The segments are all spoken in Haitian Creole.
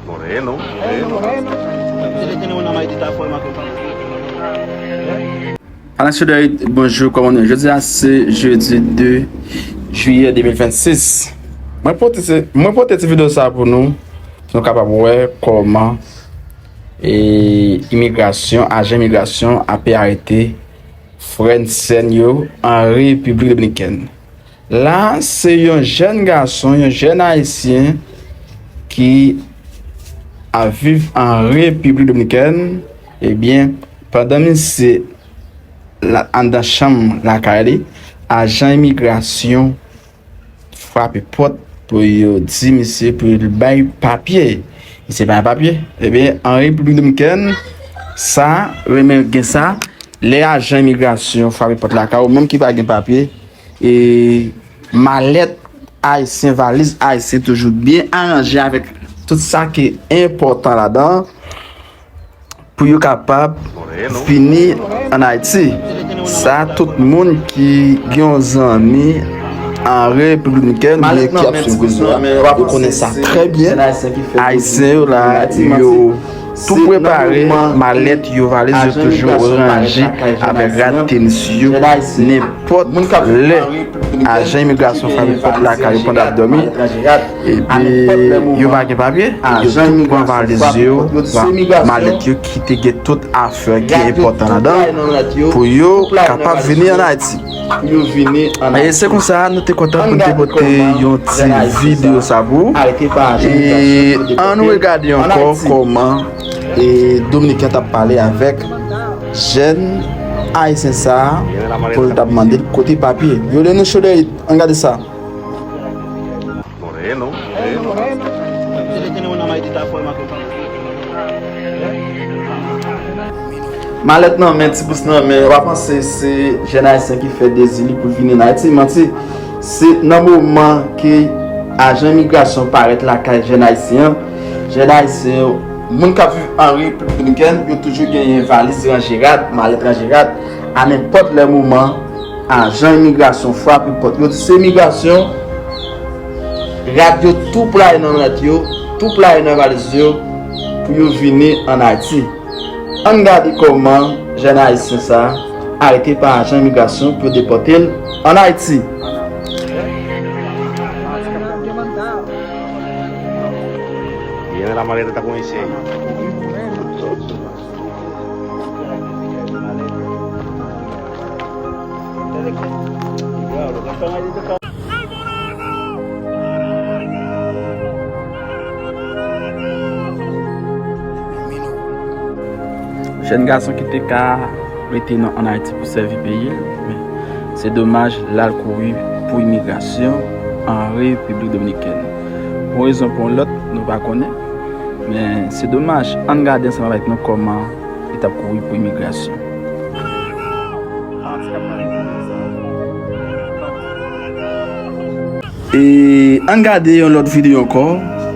Moreno. Alasodèy, bonjou, kòman nou? Jodi a se jodi 2 juyè 2026. Mwen pote ti video sa pou nou, pou nou kapab wè kòman imigrasyon, ajan imigrasyon ape arete frè n, sè n yo an Repiblik Dominikèn. La se yon jèn gason, yon jèn ayisyen ki a viv an Repiblik Dominikèn, ebyen eh pandan misye anndan chanm lakay li, ajan imigrasyon frape pòt pou yo di misye pou l bay papye. Misye pa gen papye, ebyen eh an Repiblik Dominikèn sa, renmen gen sa, lè ajan imigrasyon frape pòt lakay ou menm ki pa gen papye, E malèt ayisyen, valiz ayisyen toujou byen aranje avèk tout sa ki enpòtan ladan pou yo kapab vini an Ayiti. Sa tout moun ki gen yon zanmi an Repiblik Dominikèn oubyen ki ap swiv rezo a, yo ap konnen sa trè byen. Ayisyen yo la, yo. Tou prepare malèt yo, valiz yo toujou ranje avèk rad tenis yo, nenpòt lè ajan imigrasyon frape pòt lakay yo pandan y ap dòmi epi yo pa gen papye, yo tout pran valiz yo, malèt yo ki te gen tout afè ki enpòtan ladan pou yo kapab vini an Ayiti. pou yo vini an Ayiti. Se konsa nou te kontan pou nou te pote yon ti video sa pou ou. E an nou regade ankò kòman Dominiken t ap pale avèk jèn Ayisyen sa pou l t ap mande l kote papye. Violeno Choderit, an gade sa. Moreno, moreno, Malèt nan men, ti bous nan men, wap panse se jèn ayisyen ki fè dezi li pou vini nan Ayiti, manti. Se nan moman ke ajan imigrasyon parèt lakay jèn ayisyen an, jèn ayisyen yo, moun kap viv an Repiblik Dominikèn, yo toujou genyen valiz ranje rad, malèt ranje rad, a nenpòt lè moman. Ajan imigrasyon frape pòt yo, se imigrasyon, rad yo tou playe nan rad yo, tou playe nan valiz yo pou yo vini an Ayiti. Ann gade kòman jèn ayisyen sa a arete pa ajan imigrasyon pou yo depòte l an Ayiti. Jèn gason ki te ka rete nan an Ayiti pou sèvi peyi l, men se domaj l al kouri pou imigrasyon an Repiblik Dominikèn. Pou yon rezon ou pou yon lòt, nou pa konnen, men se domaj. Ann gade ansanm avèk nou kòman li t ap kouri pou imigrasyon. E ann gade yon lòt videyo ankò,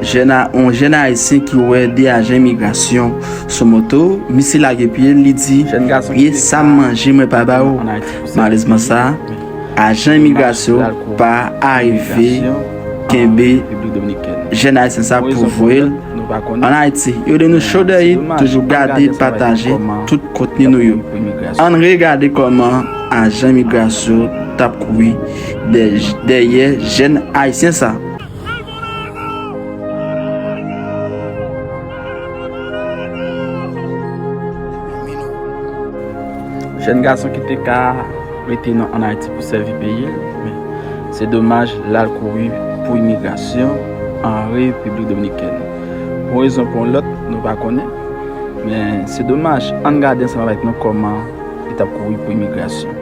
yon jèn ayisyen ki wè 2 ajan imigrasyon sou moto, misye lage pye l, li di, Ye sa m manje mwen pa ba ou? Malerezman sa, ajan imigrasyon pa arive. kenbe jèn ayisyen sa pou vwe l an ayiti yo de nou chou deyit toujou gade pataje tout kontni nou yo ann re gade koman ajan imigrasyo tap kouri dèyè jèn ayisyen sa. Jèn gason ki te ka. rete nan an Ayiti pou sèvi peyi l, men se domaj l al kouri pou imigrasyon an Repiblik Dominikèn. Pou rezon pou yon lòt nou pa konnen, men se domaj ann gade ansanm avèk nou kòman li t ap kouri pou imigrasyon.